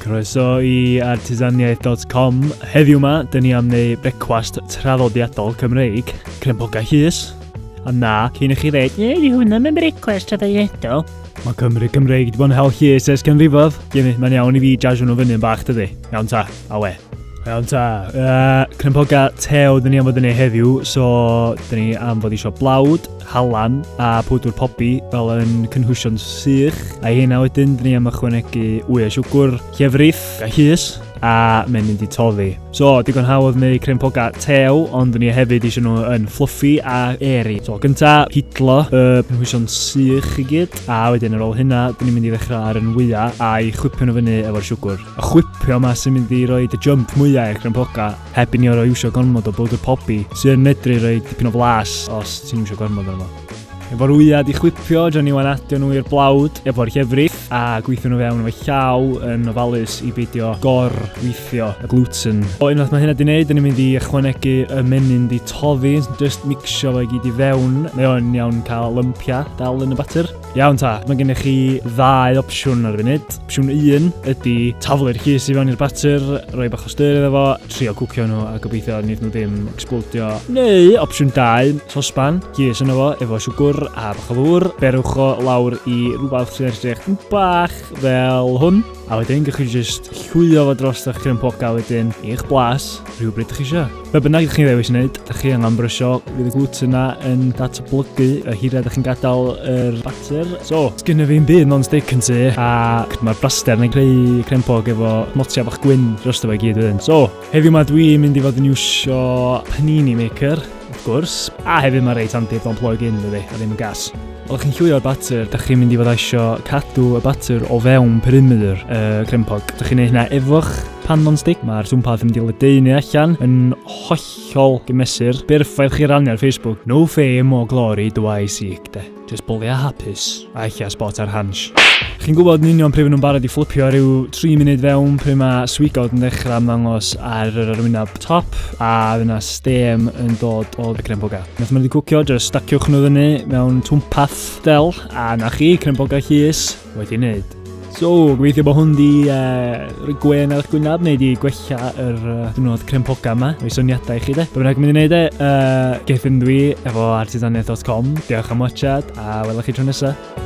Croeso i artisaniaeth.com. Heddiw yma, dyn ni am neu brecwast traddodiadol Cymreig, crempogau llys. A na, cyn i chi ddweud, ne, di hwnna mewn brecwast traddodiadol. Mae Cymru Cymreig wedi bod yn hel llys ers canrifodd. Ie, mae'n iawn i fi jazz hwnnw fyny yn bach, dydy. Iawn ta. A we. Iawn ta, uh, Cnympoga te oedd ni am fod yn ei heddiw, so dyn ni am fod eisiau blawd, halan a pwdwr pobi fel yn cynhwysion sych. A hynna wedyn, dyn ni am ychwanegu wy a siwgwr, llefrith a hys a mae'n mynd i toddi. So, digon hawdd neu crempoga tew, ond ni hefyd eisiau nhw yn fluffy a eri. So, gynta, hidlo y uh, penhwysion sych i gyd, a wedyn ar ôl hynna, dyn ni'n mynd i ddechrau ar yn wyau a'i chwipio nhw fyny efo'r siwgwr. y chwipio yma sy'n mynd i roi y jump mwyau i'r crympoga heb i ni orau iwsio gormod o bowdr pobi sy'n yn medru rhoi dipyn o flas os ti'n iwsio gormod o'n fo. Efo'r wyad i chwipio, dro ni wan adio nhw i'r blawd efo'r llefrith a gweithio nhw fewn efo llaw yn ofalus i beidio gor weithio y gluten. O unwaith mae hynna di wneud, ni'n mynd i ychwanegu y menyn di toddi, just mixio fo i gyd i fewn. Mae o'n iawn cael lympia dal yn y batter. Iawn ta, mae gennych chi ddau opsiwn ar y funud. Opsiwn 1 ydy taflu'r llys i fewn i'r batur, rhoi bach o styr iddo fo, trio cwcio nhw a gobeithio nid nhw ddim explodio. Neu opsiwn 2, sosban, llys yno fo, efo siwgwr a bach o ddŵr. Berwch o lawr i rhywbeth sy'n edrych yn bach fel hwn. A wedyn, gwych chi jyst llwio fo dros eich cryn poca wedyn i'ch blas rhywbryd chi eisiau. Be bynnag ydych chi'n ddewis wneud, ydych chi angen brysio, fydd y gluten yna yn datblygu y hiriau ydych chi'n gadael yr bater. So, sgynna fi'n byd non-stick yn tu, a mae'r braster yn creu crempog efo motia bach gwyn dros y gyd wedyn. So, heddiw mae dwi'n mynd i fod yn iwsio panini maker, wrth gwrs, a hefyd mae reit handi, don't plug in, dydy, a ddim yn gas. Os chi'n llwio'r batur, da chi'n mynd i fod eisiau cadw y batur o fewn perimeter y uh, crempog. Da chi'n ei hynna efo'ch pan non-stick. Mae'r twmpath yn mynd i ledeinu allan yn hollol gymesur. Berffaith chi rannu ar Facebook. No fame or glory do I seek, de. Just bwli a hapus. A eich a spot ar hans. Chi'n gwybod yn union pryd maen nhw'n barod i fflipio rhyw 3 munud fewn pryd mae swigod yn dechrau ymddangos ar yr arwyneb top a fyna stem yn dod o'r crempog a. Wnaeth mynd i cwcio, jyst staciwch nhw fyny mewn twmpath del, a na chi, crynbogau llys, wedi wneud. So, gobeithio bod hwn di uh, rhoi gwen ar eich gwynaf neu di gwella yr uh, dwrnod crempogau yma, o'i syniadau i chi de. Bydd bynnag mynd i wneud e, uh, geith yn dwi efo artisaniaeth.com. Diolch am watchad a welwch chi tro nesaf.